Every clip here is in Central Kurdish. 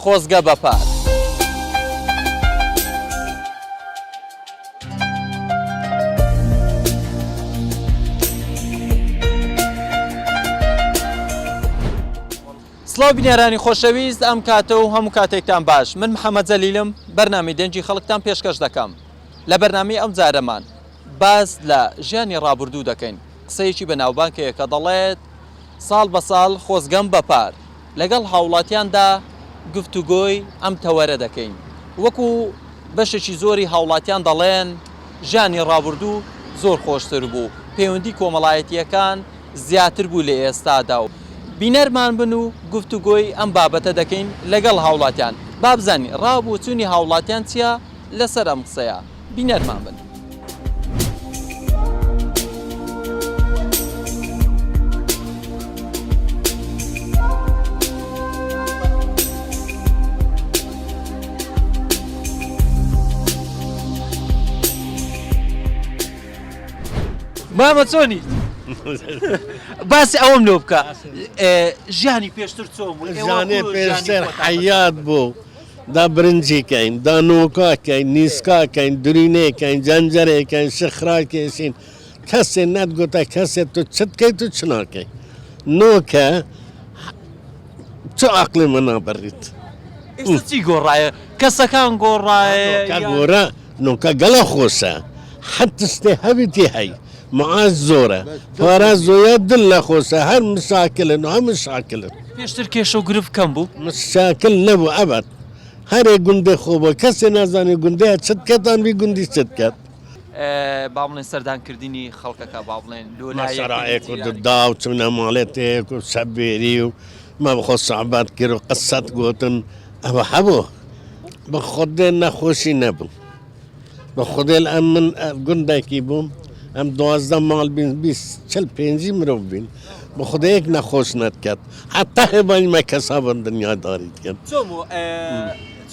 خۆزگە بە پار. سڵاو بینەرانی خۆشەویست ئەم کاتە و هەموو کاتێکتان باش من محەممەد جەلیلم بەرنامی دەنجی خەڵکتان پێشکەش دەکەم لە بەرنامی ئەم جارەمان باز لە ژیانی ڕابردوو دەکەین قسەیەکی بەناوبانکەیە کە دەڵێت ساڵ بە ساڵ خۆزگەم بەپار لەگەڵ هاوڵاتیاندا گفتوگۆی ئەم تەوەرە دەکەین، وەکو بەشێکی زۆری هاوڵاتیان دەڵێن ژیانی ڕابوردوو زۆر خۆشتر بوو، پەیوەندی کۆمەڵایەتییەکان زیاتر بوو لە ئێستادا و بینەرمان بن و گفتوگۆی ئەم بابەتە دەکەین لەگەڵ هاوڵاتیان، با بزانین ڕا و بۆچوونی هاوڵاتیان چییە لەسەر ئەم قسەیە. بینەرمان بن. مامە چۆنی باسی ئەوم لۆ بکە ژیانی پێشتر چۆم ژانێ پێشتر حیات بوو. دا برنجی کەین، دا نۆکا کەین، نیسکا کەین، درینێ کەین، جەنجەرێ کەین، شخرا کێشین، کەسێ نەت گۆتە کەسێ تو چت کەیت و چ ناکەی؟ نۆکە چۆ ئەقڵی مە نابریت؟ ئێستا چی گۆڕایە؟ کەسەکان گۆڕایە؟ نۆکە گۆرا. نوکە گەلە خۆشە هەر تشتێ هەبیتی هەی معاش زۆرە پارا زۆیە دل نەخۆشە هەر مساکلن و هەر مشاکلن پێشتر کێشە و گرفت کەم بوو مشاکل نەبوو ئەبەد هەرێ گوندێ خۆ بۆ کەسێ نازانێ گوندەیە چت کەتان بی گوندی چت کەت. با بڵێن سەردان کردنی خەڵکەکە با بڵێن مەسەرایەک و ددا و چونە ماڵێتێک و سەبێری و مەبخۆ سەعبات کرد و قسەت گۆتن ئەوە حەبۆ بە خۆدێ نەخۆشی نەبوو بە خۆدێل ئەم من گوندێکی بووم ئەم دوازدە ماڵ بین بیست چل پێنجی مرۆڤ بین بە خودەیەک نەخۆش نەتکرد حتا هێبانی مە کەسا بە دنیا داریت کرد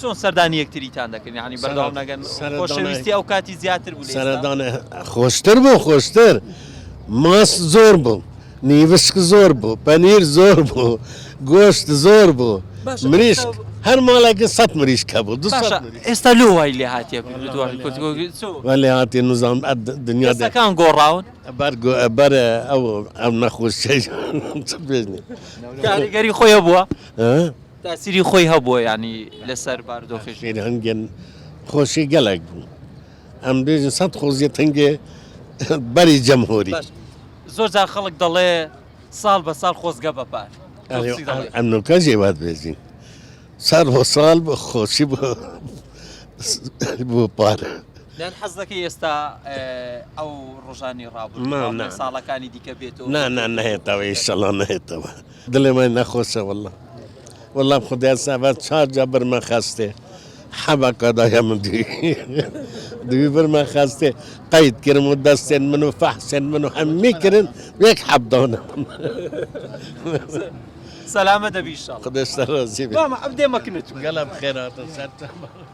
چۆن سەردانی یەکتریتان دەکرد ینی بەرداڵ نەگەن خۆشەویستی ئەو کاتی زیاتر بوو سەردانە خۆشتر بۆ خۆشتر ماست زۆر بوو. نیڤسک زۆر بوو پەنیر زۆر بوو گۆشت زۆر بوو مریشک هەر ماڵێک سەد مریشک هەبوو دوو سەد باشە مریشک ئێستا لۆ وای لێ هاتیە بردووە کورد گۆگی چۆ وای لێ هاتی نزام ئەد دنیا دێ کەسەکان گۆڕاون بەر گۆ بەر ئەو ئەم نەخۆشیەی چ پێ نێ کاریگەری خۆی هەبووە ها تاسیری خۆی هەبووە یانی لەسەر باردۆخیش تێرهەنگێن خۆشی گەلەک بوو. ئەمبێژن سەد خۆزگە تەنگێ بەری جەمهوری. زۆر جار خەڵک دەڵێ ساڵ بە ساڵ خۆزگە بە پار. ئەم نوکە جێوات بێژین سەر هۆ ساڵ بە خۆشی بۆ بۆ پارە. یان حەز دەکە ئێستا ئەو ڕۆژانی ڕابوو ساڵەکانی دیکە بێتەوە نانان نهێتەوە ئیشەڵا نهێتەوە. دڵێ مای نەخۆسە وەڵا. وەڵا خودایە سابا چار جا بەرما خاستێ حەبا قەدایا من دوی دوی بەرما خاستێ قەید کرم و دەستێن من و فەحسێن من و هەمی کرن وێک حەب دانا سەلامەت ئەبی ئیشاڵڵا خودای سەر ڕازی بێ مامە ئەبدێ مەکنە تو گەلە بخێراتن سەرتان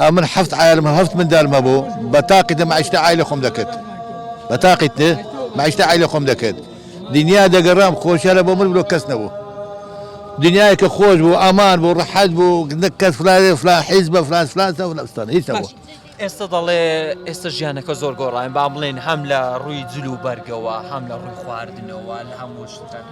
ئەمن حەفت عەیالم هەبوو هەفت مندالم هەبوو بە تاقی دە مەعیشتە عەیلە خۆم دەکرد بە تاقی تێ مەعیشتە عەیلە خۆم دەکرد دنیا دەگەڕام خۆشیارە بۆ من بلۆ کەس نەبوو دنیای کە خۆش بوو ئامان بوو ڕحەت بوو کەس فلانێ فلان حیز بە فلان فلان فلان هیچ نەبوو ئێستا دەڵێ ئێستا ژیانەکە زۆر گۆڕاین با بڵێن هەم لە ڕووی جل و بەرگەوە هەم لە ڕووی خواردنەوە لە هەموو شتەکە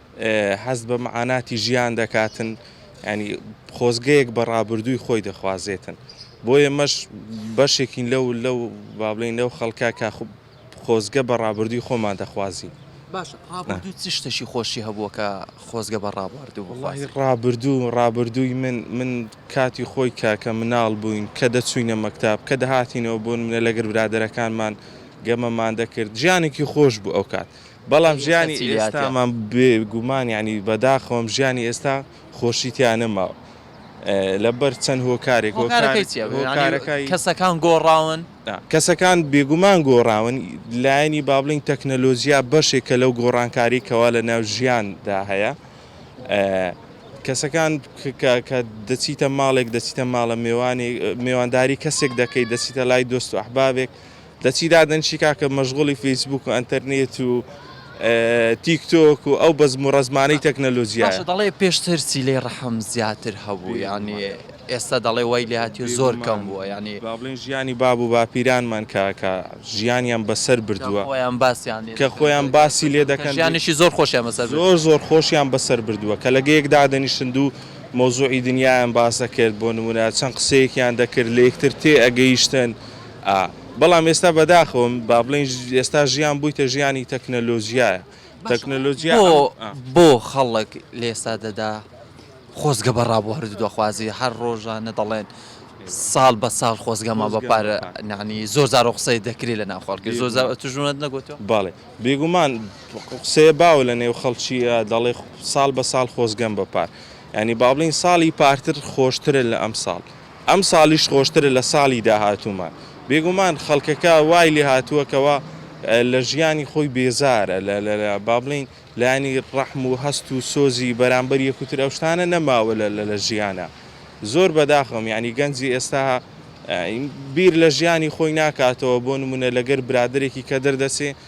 هەست بە مەعاناتی ژیان دەکاتن، یانی خۆزگەیەک بە ڕابردووی خۆی دەخوازێتن. بۆ ئێمەش بەشێکین لەو لەو با بڵێین لەو خەڵکە کە خۆزگە بە ڕابردووی خۆمان دەخوازین. باشە ڕابردوو چ شتێکی خۆشی هەبووە کە خۆزگە بە ڕابردوو بخوازی؟ ڕابردوو ڕابردووی من من کاتی خۆی کە کە مناڵ بووین کە دەچووینە مەکتاب کە دەهاتینەوە بۆ نمونە لەگەر برادەرەکانمان گەمەمان دەکرد ژیانێکی خۆش بوو ئەو کات. بەڵام ژیانی ئێستامان بێ گومان یانی بەداخەوەم ژیانی ئێستا خۆشی تیا نەماوە لەبەر چەند هۆکارێک هۆکارەکەی چیە هۆکارەکەی کەسەکان گۆڕاون کەسەکان بێگومان گۆڕاون لایەنی با بڵێین تەکنەلۆژیا بەشێکە لەو گۆڕانکاری کەوا لە ناو ژیاندا هەیە کەسەکان کە دەچیتە ماڵێک دەچیتە ماڵە مێوانی مێوانداری کەسێک دەکەیت دەچیتە لای دۆست و ئەحبابێک لە چی دادەنیشی کاکە مەشغوڵی فەیسبووک و ئەنتەرنێت و تیک تۆک و ئەو بەزم و ڕەزمانەی تەکنەلۆژیایە. باشە دەڵێ پێشتر چیلەی ڕەحم زیاتر هەبوو یانی ئێستا دەڵێ وای لێ هاتیە زۆر کەم بووە یانی. با بڵێین ژیانی باب و باپیرانمان کە کە ژیانیان بەسەر بردووە. کە خۆیان باسیان لێ دەکەن. کە خۆیان باسی لێ دەکەن. کە ژیانێکی زۆر خۆشیان بەسەر بردووە. زۆر زۆر خۆشیان بەسەر بردووە. کە لە گێک دادەنیشتن دوو مەوزوعی دنیایان باس دەکرد بۆ نموونە چەند قسەیەکیان دەکرد لە یەکتر تێ ئەگەیشتن. ئا بەڵام ئێستا بەداخەوە بابڵێین ئێستا ژیان بویتە ژیانی تەکنەلۆجیایە تەکنەلۆجیا بۆ بۆ خەڵک لێستا دەدا خۆزگە بە ڕابواردو دەخوازی هەر ڕۆژانە دەڵێن ساڵ بە ساڵ خۆزگەمان بە پارە نانی زۆر زارۆ قسەی دەکری لە ناوخواڵکە زۆر زار تژونەت نەگوتو باڵێ بێگومان قسەیە باوە لە نێو خەڵکیە دەڵێ ساڵ بە ساڵ خۆزگەم بە پار ینی بابلین ساڵی پارتر خۆشترە لە ئەم ساڵ ئەم ساڵیش خۆشترە لە ساڵی داهاتوومان. بێگومان خەڵکەکە وای لێ هاتووە کەوا لە ژیانی خۆی بێزارە، لە لە لە با بڵێین لایەنی ڕەحم و هەست و سۆزی بەرامبەر یەک و تر ئەو شتانە نەماوە لە لە لە ژیانا. زۆر بەداخەوەم یانی گەنجی ئێستا بیر لە ژیانی خۆی ناکاتەوە بۆ نموونە لەگەر برادەرێکی کە دەردەچێ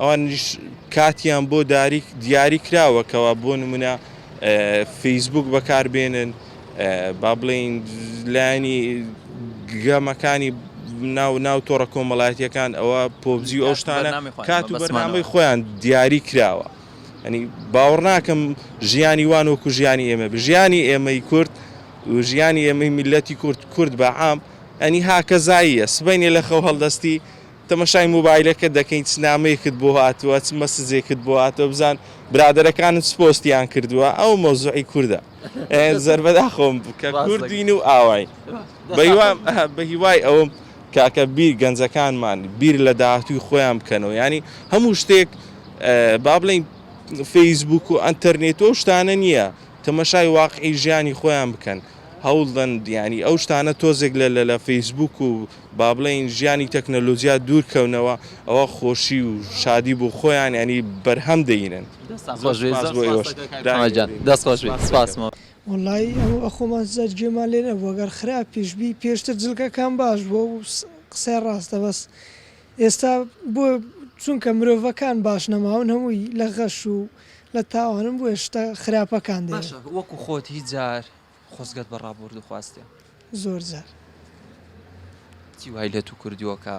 ئەوانیش کاتیان بۆ دیاری کراوە کەوا بۆ نمونە فەیسبووک بەکار بێنن با بڵێین لانی گەمەکانی ناو ناو تۆڕە کۆمەڵایەتیەکان ئەوە پۆبزی ئەو شتانە کات و بەرنامەی خۆیان دیاری کراوە ئەنی باوەڕ ناکەم ژیانی وان وەکو ژیانی ئێمە بژیانی ئێمەی کورد ژیانی ئێمەی میلەتی کورد کورد بە عام ئەنی هاکە زاییە سبینێ لە خەو هەڵدەستی تەمەشای مۆبایلەکەت دەکەین چ نامەیەکت بۆ هاتووە چ مەسجێکت بۆ هاتووە بزان برادەرەکانت چ پۆستیان کردووە ئەوە مەوزوعی کوردە زەر بەداخەوەم کە کوردین و ئاواین بەهیوام بەهیوای ئەوم کاکە بیر گەنجەکانمان بیر لە داهاتووی خۆیان بکەنەوە ینی هەموو شتێک با بڵین فەیسبوک و ئەتەرنێت و شتانە نییە تەمەشای واقعی ژیانی خۆیان بکەن هەوڵدەن دیانی ئەو شتانە تۆزێک لە لە لە فەیسبوک و با بڵێین ژیانی تەکنەلۆجیا دوور کەونەوە ئەوە خۆشی و شادی بۆ خۆیان یانی بەرهەم دەینن. دەستتان خۆش بێت زۆر سپاست کاک حەمە گیان دەست خۆش بیت سپاس. وەڵایی ئەمە ئەخۆمان زەرد گوێمان لێ نەبوو ئەگەر خراپیش بی پێشتر جلکەکان باش بوە و قسەی ڕاستە بەس ئێستا بۆ چونکە مرۆڤەکان باش نەماون هەمووی لە غەش و لە تاوانن بۆیە شتە خراپەکان دێنن. باشە وەکو خۆت هیچ جار. خۆزگەت بە ڕابووردوو خواستیە. زۆر جار. چی وای لە توو کردووە کە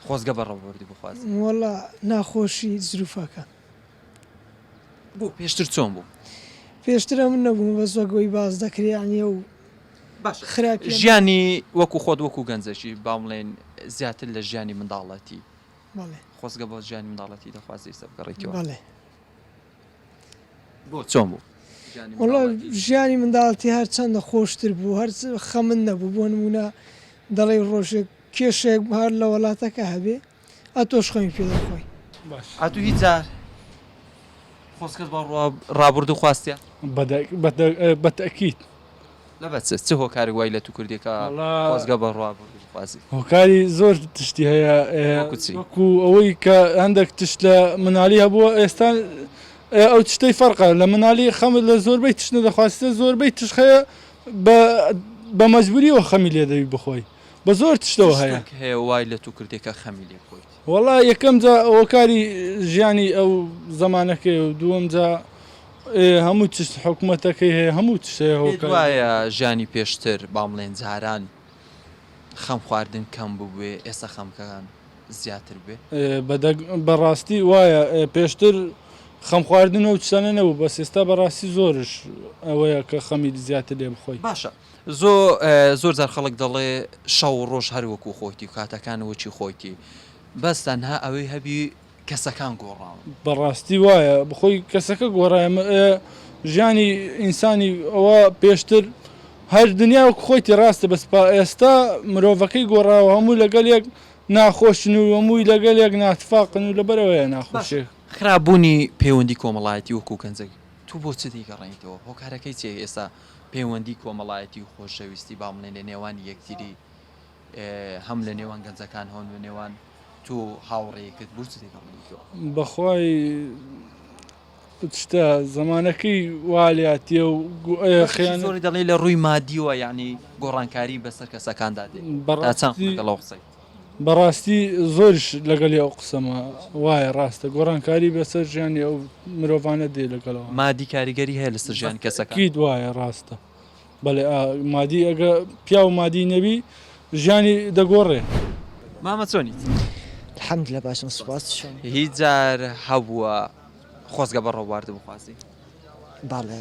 خۆزگە بە ڕەبووردوو بخوازی؟ وەڵا ناخۆشی زروفەکە. بۆ پێشتر چۆن بوو؟ پێشتر ئەمن نەبووم بەس وەک ئەوەی باس دەکرێ یەعنی ئەو باشە خراپیە. ژیانی وەکوو خۆت وەکوو گەنجەکی با بڵێین زیاتر لە ژیانی منداڵەتی بەڵێ. خۆزگە بۆ ژیانی منداڵەتی دەخوازی ئیستا بگەڕێیتەوە؟ بەڵێ. بۆ چۆن بوو ژیانی وەڵا منداڵەتی؟ ژیانی منداڵەتی هەر چەندە خۆشتر بوو هەر خەمت نەبوو بۆ نموونە دەڵێی ڕۆژێک کێشەیەک هەر لە وەڵاتەکە هەبێ ئەتۆش خەمی پێ دەخۆی. باش. هاتوو هیچ جار خۆزگەت بە ڕابوردوو خواستیە؟ بە بە بە تەئکید. لەبەر چ هۆکارێک وای لە تو کردیە کە خۆزگە بە ڕوابوت بتخوازی؟ هۆکاری زۆر تشتی هەیە وەکو ئەوەی کە هەندەک تشت لە منالی هەبووە ئێستا ئەو تشتەی فەرقە لە منالی خەمت لە زۆربەی تشت نەدەخواستیتە زۆربەی تشت هەیە بە بە مەجبوریەوە خەمی لێدەبی بخۆی بە زۆر تشتەوە هەیە. شتەک هەیە وای لە تو کردیە کە خەمی لێ بخۆیت؟ وەڵا یەکەم جا هۆکاری ژیانی ئەو زەمانەکەی و دووەم جا هەموو چشت حکومەتەکەی هەیە هەموو چشتەیە هۆکاری. پێت وایە ژیانی پێشتر با بڵێن جاران خەم خواردن کەم ببوێ ئێستا خەمەکان زیاتر بێ؟ بە ڕاستی وایە پێشتر خەم خواردن ئەو چشتانە نەبوو بەس ئێستا بە ڕاستی زۆرش ئەوەیە کە خەمی زیاتر لێ بخۆی. باشە زۆ زۆر جار خەڵک دەڵێ شەو و ڕۆژ هەر وەکوو خۆیتی و کاتەکان وەکی خۆیتی بەس تەنها ئەوەی هەبی کەسەکان گۆڕاون. بە ڕاستی وایە بخۆی کەسەکە گۆڕایە مە ئە ژیانی ئینسانی ئەوە پێشتر هەر دنیا وەکوو خۆیتی ڕاستە بەس پا ئێستا مرۆڤەکەی گۆڕاوە هەموو لەگەڵ یەک ناخۆشن و هەمووی لەگەل یەک ناتفاقن و لەبەر ئەوەیە ناخۆشی باشە خراپ بوونی پەیوەندی کۆمەڵایەتی وەکوو گەنجەک تۆ بۆ چ دەیگەڕێنیتەوە هۆکارەکەی چیە ئێستا پەیوەندی کۆمەڵایەتی و خۆشەویستی با بڵێین لە نێوان یەکتری هەم لە نێوان گەنجەکان هەم لە نێوان تۆ و هاوڕێیەکەت بۆ چ لەگەڵ نەیتوە؟ بەخوای شتە زمانەکەی والیاتیە و خیان زۆری دەڵێ لە ڕووی مادیوە یعنی گۆڕانکاری بەسەر کەسەکاندا دێ بەڕاچان لەگەڵ قسەی بەڕاستی زۆریش لەگەڵی ئەو قسەمە وایە ڕاستە گۆڕانکاری بەسەر ژیانی ئەو مرۆڤانە دێ لەگەڵەوە. مادی کاریگەری هەیە لەسەر ژیانی کەسەکان. بەتەئکید وایە ڕاستە بەڵێ ئا مادی ئەگە پیاو مادی نەبی ژیانی دەگۆڕێ. مامە چۆنیت؟ الحمدللە باشم سوپاس چۆن. هیچ جار هەبووە خۆزگە بە ڕۆبارد بخوازی؟ بەڵێ.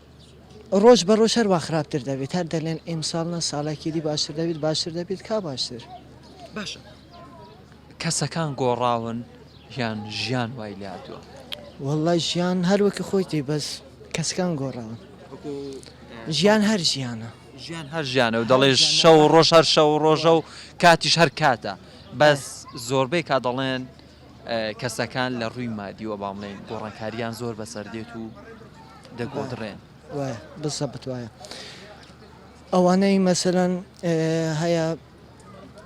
ڕۆژ بە ڕۆژ هەر وا خراپتر دەبێت هەر دەلێن ئیمساڵ نا ساڵێکی دی باشتر دەبێت باشتر دەبێت کا باشتر باشە کەسەکان گۆڕاون یان ژیان وای لاتوە والله ژیان هەروەکە خۆی تێ بەس کەسکان گۆڕاون ژیان هەر ژیانە ژیان هەر ژیانە و دەڵێ شەو ڕۆژ هەر شەو ڕۆژە و کاتیش هەر کاتە بەس زۆربەی کا دەڵێن کەسەکان لە ڕووی مادیوە با بڵێین گۆڕانکاریان زۆر بەسەر دێت و دەگۆدڕێن وایە بسە بتوایە ئەوانەی مەسەرەن هەیە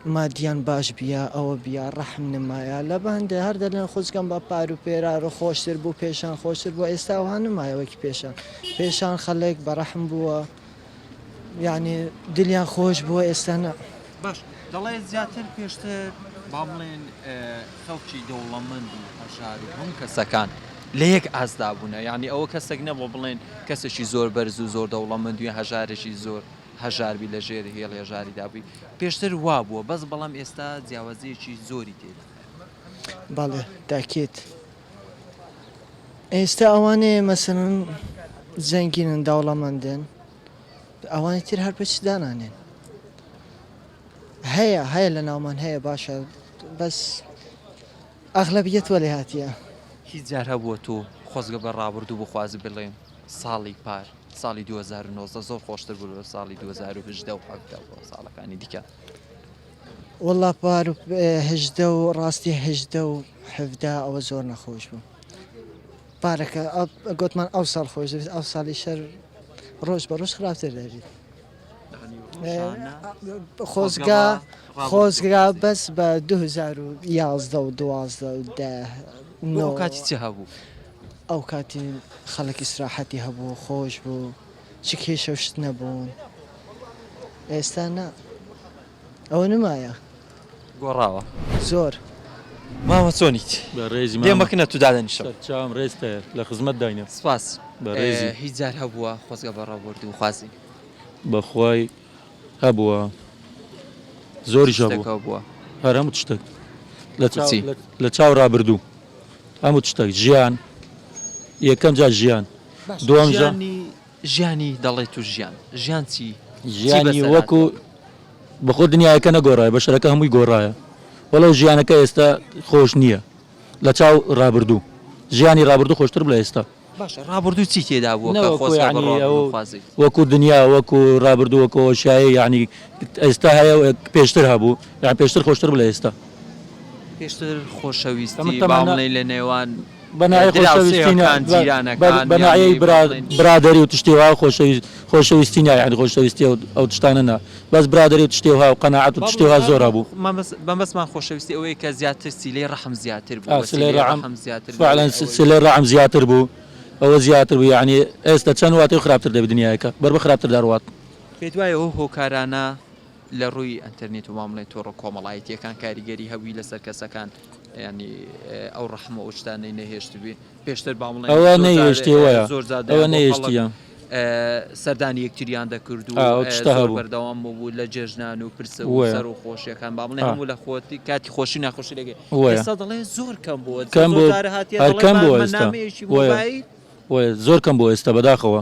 مادیان باش بیا ئەوە بیا ڕەحم نمایە لە باندێ هەر دەلێن خۆزگەم بە پار و پێرارە خۆشتر بوو پێشان خۆشتر بۆ ئێستا وان نمایەوەکی پێشان پێشان خەلێک بە ڕەحم بووە یانی دلیان خۆش بوە ئێستا نا. باش دەڵێ زیاتر پێشتر با بڵێن خەڵکی دەوڵەمەند و هەژار و هەموو کەسەکان لە یەک ئاستدا بوونە یانی ئەوە کەسێک نەبوو بڵێن کەسێکی زۆر بەرز و زۆر دەوڵەمەند و هەژارێکی زۆر هەژار بی لە ژێر هێڵ هێژاریدا بووی پێشتر وا بووە بەس بەڵام ئێستا جیاوازیەکی زۆری تێدا هەیە. بەڵێ تاکید. ئێستا ئەوانەیە مەسەلەن زەنگینن دەوڵەمەندن ئەوانی تر هەر بەچ دانانێن هەیە هەیە لە ناومان هەیە باشە بەس ئەغلبیەت وەێ هااتە هیچ جار هەبووە تۆ خۆزگە بە ڕابردوو بخوازی بڵێن ساڵی پار ساڵی 2009 زۆر خۆشتر بوو لە ساڵی 2010 ساڵەکانی دیکە. وەڵا فاروق هەژدە و ڕاستی هەژدە و حەڤدا ئەوە زۆر نەخۆش بوو پارەکە گوتمان ئەو ساڵ خۆش دەبێت ئەو ساڵی شەر ڕۆژ بە ڕۆژ خراپتر دەبێت خۆزگا خۆزگا بەس بە 2011 و دوازدە و دە نۆ. کاتی چ هەبوو؟ ئەو کاتی خەڵک ئیسراحەتی هەبوو خۆش بوو. چ کێشە و شت نەبوون ئێستا نا ئەوە نمایە. گۆڕاوە زۆر. مامە چۆنیت بەڕێزی مامە دێمە کنە تو دادەنیشم. سەرچاوم ڕێز تەیەر لە خزمەتداینە. سپاس بەڕێزی. هیچ جار هەبووە خۆزگە بە ڕابوورد و خوازی. بەخوای هەبووە زۆریش هەبووە. شتەک هەبووە. هەر هەموو تشتەک لە چاو لە چاو ڕابردوو هەموو تشتەک ژیان یەکەم جار ژیان. دووەم جار ژیانی دەڵێت و ژیان ژیان چی ژیانی وەکو بەخۆ دنیاەکە نەگۆڕایە بە شەرەکە هەمووی گۆڕایە وەڵە ژیانەکە ئێستا خۆش نییە لە چاو ڕابردوو ژیانی ڕابردوو خۆشتر بلە ئێستا ڕابردوو چی تێدا بووە وەکو دنیا وەکو ڕابردوو وەکۆ شایە یعنی ئێستا هەیە پێشتر هەبوو یا پێشتر خۆشتر بلە ئێستا پێشتر خۆشەویستی باڵی لە نێوان دراوسێیەکان، جیرانەکان، یانی بەڵێن. مەبەستمان خۆشەویستی ئەوەیە کە زیاتر سیلەی ڕەحم زیاتر بوو، وە سیلەی ڕەحم زیاتر بوو، پێت وایە ئەو هۆکارانە. لە ڕووی ئەنتەرنێت و مامڵەی تۆڕە کۆمەڵایەتییەکان کاریگەری هەبووی لەسەر کەسەکان یانی ئەو ڕەحم و ئوجدانەی نەهێشتبووی پێشتر بامڵێ ئەوە نەیشتی وەیە زۆر زیاد ئەوە نەیشتیە سەردانی یەکتریان دەکرد و بەردەوام بوو لە جێژنان و پرسە سەر و خۆشیەکان با بڵێ هەموو لە خۆتی کاتی خۆشی ناخۆشی لەگەی ئێستا دەڵێ زۆر کەم بووە کەم بۆ هاتیەکەم بۆ ئێستا زۆر کەم بۆ ئێستا بەداخەوە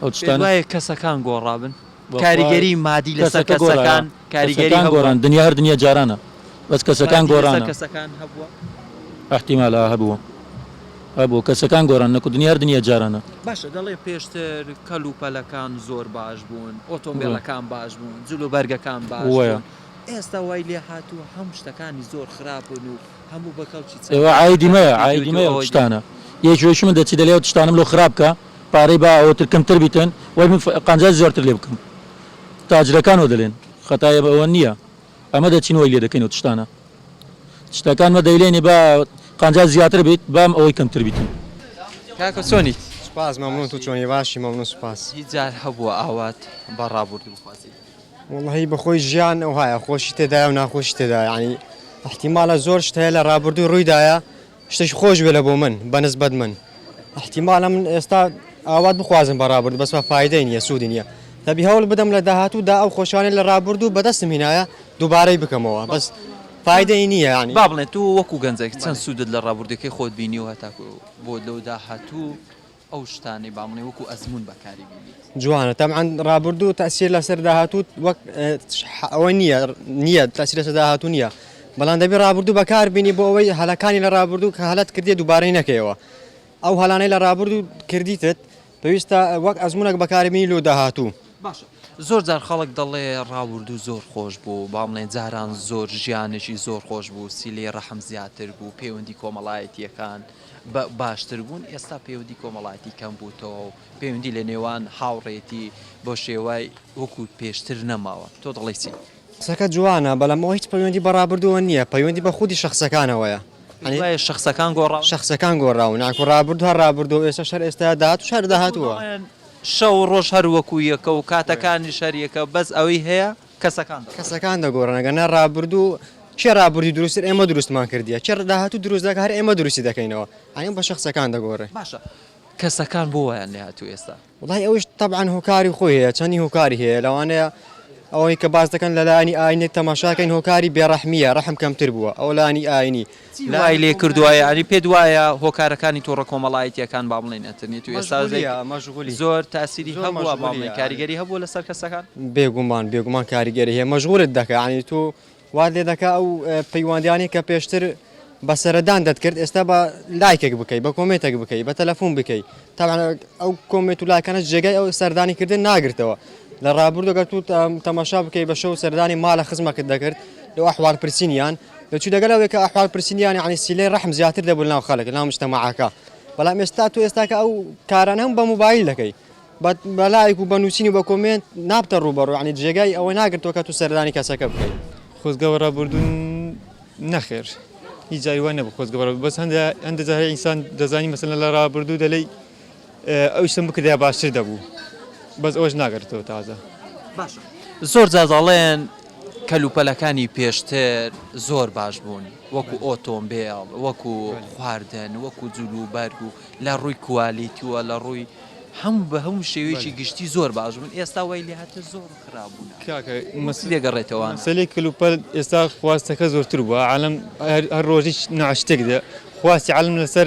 پێت وایە کەسەکان گۆڕابن؟ کاریگەری مادی لەسەر کەسەکان کاریگەری هەبووە؟ کەسەکان گۆڕان دنیا هەر دنیا جارانە بەس کەسەکان گۆڕانە. مادی لەسەر کەسەکان هەبووە؟ ئیحتیمال ئا هەبووە هەبووە کەسەکان گۆڕان نەکوو دنیا هەر دنیا جارانە. باشە دەڵێن پێشتر کەل و پەلەکان زۆر باش بوون ئۆتۆمبێلەکان باش بوون جل و بەرگەکان باش بوون ئێستا وای لێ هاتووە هەموو شتەکانی زۆر خراپن و ئێوە عایدی مەیە عایدی مەیە ئەو شتانە یەی جۆیشی من دەچی دەلێ ئەو تشتانم لۆ خراپ کە پارەی با ئەوەتر کەم تر بیتن وەی من قانجای زیارتر لێ بکەم تاجرەکان وە دەلێن خەتایە بە ئەوە نییە ئەمە دەچین وەی لێ دەکەین ئەو تشتانە تشتەکان مە دەیلێنی با قانجا زیاتر بیت بام ئەوەی کەمتر بیتن کاکە چۆنیت سوپاس مەمنون تو چۆنی باشی مەمنون سوپاس هیچ جار هەبووە ئاوات بە ڕابوردوو بخوازی وەڵڵهی بەخۆی ژیان ئەوهایە خۆشی تێدایە و ناخۆشی تێدایە یانی ئیحتیمالە زۆر شت هەیە لە ڕابوردووی ڕوویدایە شتێکی خۆش بێ لە بۆ من بە نسبەت من ئیحتیمالە من ئێستا ئاوات بخوازم بە ڕابرد بەس بە فایدەی نییە سوودی نییە دەبی هەوڵ بدەم لە داهاتوودا ئەو خۆشانەی لە ڕابوردوو بەدەستم هینایە دووبارەی بکەمەوە بەس فایدەی نییە یانی با بڵێن تۆ وەکو گەنجێک چەند سوودت لە ڕابوردووەکەی خۆت بینی و هەتاکو بۆ لەو داهاتوو ئەو شتانەی با بڵێین وەکو ئەزموون بەکاری بینیت. جوانە تەبعەن ڕابردوو تەئسیر لەسەر داهاتووت وەک ئەوە نییە نییە تەئسیر لەسەر داهاتوو نییە بەڵام دەبێ ڕابردوو بەکار بینی بۆ ئەوەی هەلەکانی لە ڕابردوو کە هەلەت کردێ دووبارەی نەکەیەوە ئەو هەلانەی لە ڕابردوو کردیتت پێویستە وەک ئەزمونەک بەکاری بینی لۆ داهاتوو باشە زۆر جار خەڵک دەڵێ ڕاوردوو زۆر خۆش بوو بامڵێن جاران زۆر ژیانێکی زۆر خۆش بوو سیلی ڕەحم زیاتر بوو پەیوەندی کۆمەڵایەتیەکان بە باشتر بوون، ئێستا پەیوەندی کۆمەڵایەتی کەم بووتەوە و پەیوەندی لە نێوان هاوڕێتی بە شێوای وەکو پێشتر نەماوە، تۆ دەڵێی چی؟ قسەکەت جوانە بەلام ئەوە هیچ پەیوەندی بە رابردووەوە نییە پەیوەندی بە خودی شەخسەکانەوەیە. پێت وایە شەخسەکان گۆڕاون؟ شەخسەکان گۆڕاون ئاکو رابردوو هەر رابردووە و ئێستاش هەر ئێستایە داهاتووش هەر داهاتووە. شەو و رۆژ هەر وەکو یەکە و کاتەکانیش هەر یەکە بەس ئەوەی هەیە کەسەکان دەگۆڕن. کەسەکان دەگۆڕن ئەگەرنا ڕابردوو کێ ڕابردووی دروست کرد ئێمە دروستمان کردیە کێ داهاتوو دروست دەکات هەر ئێمە دروستی دەکەینەوە ئەی بە شەخسەکان دەگۆڕێ. باشە کەسەکان بۆ وایان لێ هاتوو ئێستا؟ وەڵای ئەویش تەبعەن هۆکاری خۆی هەیە چەندین هۆکاری هەیە لەوانەیە ئەوەی کە باس دەکەن لە لایەنی ئاینی تەماشاکەین هۆکاری بێ ڕەحمیە ڕەحم کەمتر بووە ئەو لانی ئاینی چی وای لێ کردوە یانی پێت وایە هۆکارەکانی تۆڕە کۆمەڵایتیەکان با بڵێین ئەتەرنێتی و ئێستا مەشغولی زۆر تاسیری هەبوە با بڵێین کاریگەری هەبوە لەسەر کەسەکان؟ بێگومان بێگومان کاریگەری هەیە مەشغولت دەکا یانی تۆ وات لێ دەکا ئەو پەیواندیانەی کە پێشتر بە سەردان دەتکرد ئێستا بە لایکێک بکەیت بە کۆمێتێک بکەیت بە تەلەفۆن بکەیت تا ئەو کۆمێت و لایکانە جێگای ئەو سەردانی کردن ناگرتەوە لە ڕابردوگە تو تەماشا بکەیت بە شەو سەردانی مالە خزمەکەت دەکرد لەو ئەحوال پرسینیان چو دەگەل ئەوەی کە ئەحوال پرسین یان یانی سیلەی ڕەحم زیاتر دەبوو لەناو خەلک لەناو مجتەمەعەکە بەڵام ئێستا تو ئێستا کە ئەو کارانە هەموو بە موبایل دەکەی بە لایک و بە نووسین و بە کۆمێنت نابتە ڕووبەڕوو یانی جێگای ئەوە ناگرتەوە کە تو سەردانی کەسەکە بکەی خۆزگە بە ڕابوردوو نەخێر هیچ جای وا نەبوو خۆزگە بە ڕابوردوو بەس هەندێ هەندێ جار ئینسان دەزانی مەسەلەن لە ڕابوردوو دەلێی ئەویشتم بکردایە باشتر دەبوو بەس ئەوەش ناگەرێتەوە تازە. باشە زۆر جار دەڵێن کەلوپەلەکانی پێشتر زۆر باش بوون وەکو ئۆتۆمبێڵ وەکو خواردن وەکو جول و بەرگ و لە ڕووی کوالیتیوە لە ڕووی هەم بە هەم شێوێکی گشتی زۆر باش بوون ئێستا وای لێهاتە زۆر خرابوون لێگەڕێتەوە سەلی کەلوپەل ئێستا خواستەکە زۆرتر بووە عالم هەر ڕۆژیش ناشتێک دێ خواستی عالم لەسەر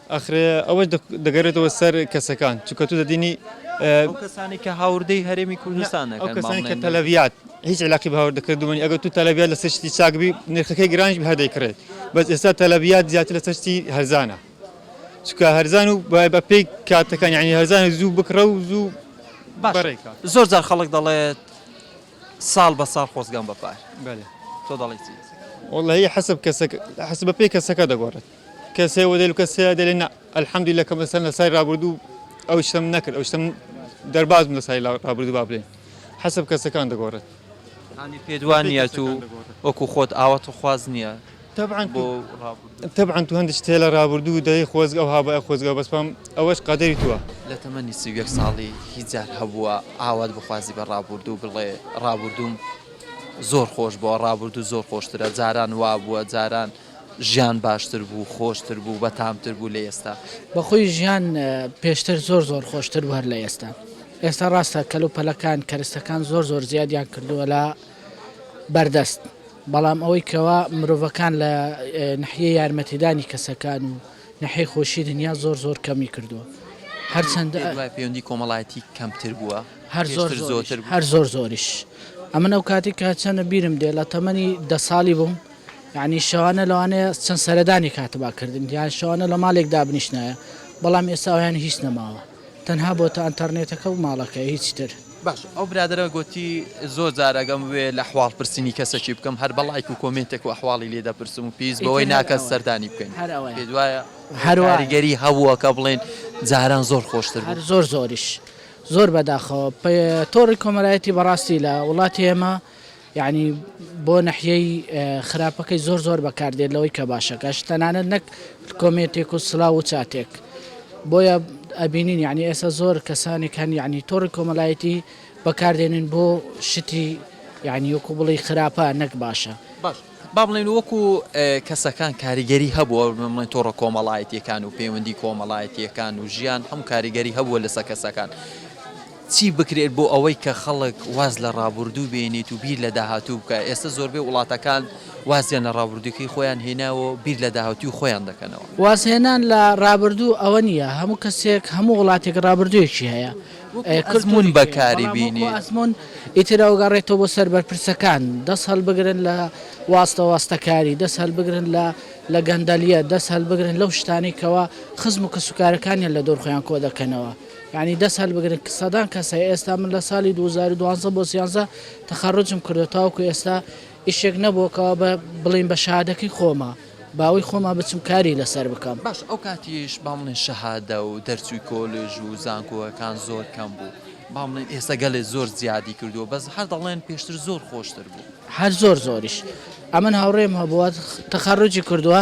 ئەخرێ ئەوەش دەگەرێتەوە سەر کەسەکان چونکە تو دەدینی ئەو کەسانی کە هاوردەی هەرێمی کوردستان ئەو کەسانی کە تەلەڤیات هیچ علاقی بە هاوردە کردوونی ئەگە تو تەلەڤیات لە سشتی چاکبی نرخەکەی گرانش هەر دەیکڕێت بەس ئێستا تەلەڤیات زیاتر لە سشتی هەرزانە چکە هەرزان و بە پێی کاتەکان یعنی هەرزان زوو بکڕە و زوو بەڕێکە زۆر جار خەڵک دەڵێت ساڵ بە ساڵ خۆزگەم بەپار تۆ دەڵێ چی؟ وڵی حەسب کەسەکە حەسب بە پێی کەسەکە دەگۆڕێت کەسێ وە دەل کەسێ دەلێ نا الحمدللە کە مەسەن لە سای ڕابردوو ئەو شتم نەکرد ئەو شتم دەربازم لە سای ڕابردوو با بلێن حەسب کەسەکان دەگۆڕێت هانی پێدوانە تو وەکو خۆت ئاواتو خواز نییە تەبعەن بۆ ڕابردوو تەبعەن تو هەندێک شتێ لە ڕابردوو دەی خۆزگە ئەوها بە خۆزگە بەس پام ئەوەش قەدەری تووە لە تەمەنی سی و یەک ساڵی هیچ جار هەبووە ئاوات بخوازی بە ڕابردوو بڵێ ڕابردووم زۆر خۆش بووە ڕابردوو زۆر خۆشترە جاران وابووە جاران ژیان باشتر بوو خۆشتر بوو بەتامتر بوو لە ئێستا. بەخۆی ژیان پێشتر زۆر زۆر خۆشتر بوو هەر لە ئێستا ئێستا ڕاستە کەل و پەلەکان کەرستەکان زۆر زۆر زیادیان کردووە لە بەردەست بەڵام ئەوەی کەوا مرۆڤەکان لە نحیە یارمەتیدانی کەسەکان و نحی خۆشی دنیا زۆر زۆر کەمی کردووە هەرچەند پەیوەندی کۆمەڵایەتی کەمتر بووە هەر زۆر زۆر هەر زۆر زۆریش ئەمن ئەو کاتی کە چەنە بیرم دێ لە تەمەنی دە ساڵی بووم یانی شەوانە لەوانەیە چەند سەردانێک هاتبا کردن، یان شەوانە لە ماڵێک دابنیشنایە، بەڵام ئێستا ئەویان هیچ نەماوە، تەنها بۆتە ئەنتەڕنێتەکە و ماڵەکە، هیچ تر. باشە ئەو برادەرە گۆتی زۆر جار ئەگەم وێ لە حواڵ پرسینی کەسەکی بکەم هەر بە ڵایک و کۆمێنتێک و ئەحواڵی لێ دەپرسم و پیویست بەوەی ناکات سەردانی بکەین هەر ئەوەیە پێت وایە هەر وایە کاریگەری هەبووە کە بڵێین جاران زۆر خۆشتر بوو؟ هەر زۆر زۆریش زۆر بەداخەوە پێ تۆڕی کۆمەلایەتی بەڕاستی لە وڵاتی ئێمە یەعنی بۆ ناحیەی خراپەکەی زۆر زۆر بەکاردێت لەوەی کە باشەکەش تەنانەت نەک کۆمێنتێک و سڵاو و چاتێک بۆیە ئەبینین یعنی ئێستا زۆر کەسانێک هەن یعنی تۆڕی کۆمەلایەتی بەکاردێنن بۆ شتی یعنی وەکو بڵی خراپە نەک باشە باش با بڵێن وەکو کەسەکان کاریگەری هەبووە بڵێن تۆڕە کۆمەڵایەتیەکان و پەیوەندی کۆمەڵایەتیەکان و ژیان هەم کاریگەری هەبووە لەسە کەسەکان چی بکرێت بۆ ئەوەی کە خەڵک واز لە ڕابوردوو بێنیت و بیر لە داهاتوو بکات، ئێستا زۆربەی وڵاتەکان وازیان لە ڕابوردوویەکەی خۆیان هێناوە و بیر لە داهاتووی خۆیان دەکەنەوە. وازهێنان لە ڕابوردوو ئەوە نییە هەموو کەسێک، هەموو وڵاتێک ڕابوردوویەکی هەیە، کلتوری هەیە، بەڵام وەکو ئەزموون ئیتر ئەوە گەڕێتەوە بۆ سەر بەرپرسەکان، دەست هەڵبگرن لە واستە واستەکاری، دەست هەلبگرن لە لە گەندەڵیەت، دەست هەلبگرن لەو شتانەی کەوا خزم و کەسوکارەکانیان لە دەور خۆیان کۆدەکەنەوە. یانی دەست هەلبگرن سەدان کەس هەیە ئێستا من لە سالی دوو هەزار و دوازدە بۆ سیانزە تەخەروجم کردوە تاوەکو ئێستا ئیشێک نەبوە کە وا بڵیم بە شەهادەکەی خۆمە باوەی خۆمە بچم کاری لەسەر بکەم. باشە ئەو کاتیش با بڵێن شەهادە و دەرچوی کۆلێژ و زانکۆکەکان زۆر کەم بو با بڵێن ئێستا گەلێ زۆر زیادی کردوە بەس هەر دەڵێن پێشتر زۆر خۆشتر بو. هەر زۆر زۆریش ئەمن هاوڕێم هەبوە تەخەروجی کردوە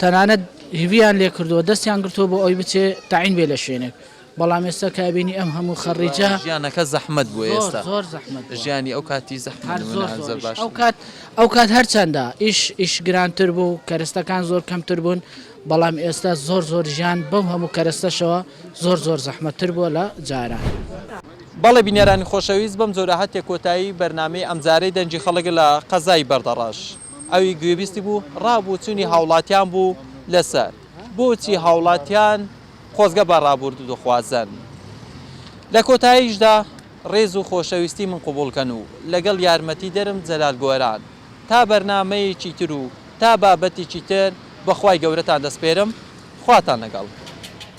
تەنانەت هڤیان لێ کردووە دەستیان گرتووە بۆ ئەوەی بچێ تەعین بێ لە شوێنێک بەڵام ئێستا کە ئەبینی ئەم هەموو خەڕیجە ژیانەکە زەحمەت بووە زۆر ئێستا زۆر زەحمەت بووە ژیانی ئەو کاتی زەحمەت هەر بوو زۆر نەمەنال زۆر زۆریش باش ئەو کات ئەو کات هەر چەندە ئیش ئیش گرانتر بوو کەرستەکان زۆر کەمتر بوون بەڵام ئێستا زۆر زۆر ژیان بەو هەموو کەرەستەشەوە زۆر زۆر زەحمەت تر بووە لە جاران. بەڵێ بینەرانی خۆشەویست بەم جۆرە هەتیە کۆتایی بەرنامەی ئەمجارەی دەنگی خەڵک لە قەزای بەردەڕەش. ئەوی گوێبیستی بوو ڕابووچوونی هاوڵاتیان بوو لەسەر بۆچی هاوڵاتیان خۆزگە بە ڕابووردوو دەخوازن. لە کۆتاییشدا ڕێز و خۆشەویستی من قبوڵ کەن و لەگەڵ یارمەتیدەرم جەلال گۆران تا بەرنامەیەکی تر و تا بابەتێکی تر بە خوای گەورەتان دەسپێرم. خواتان لەگەڵ.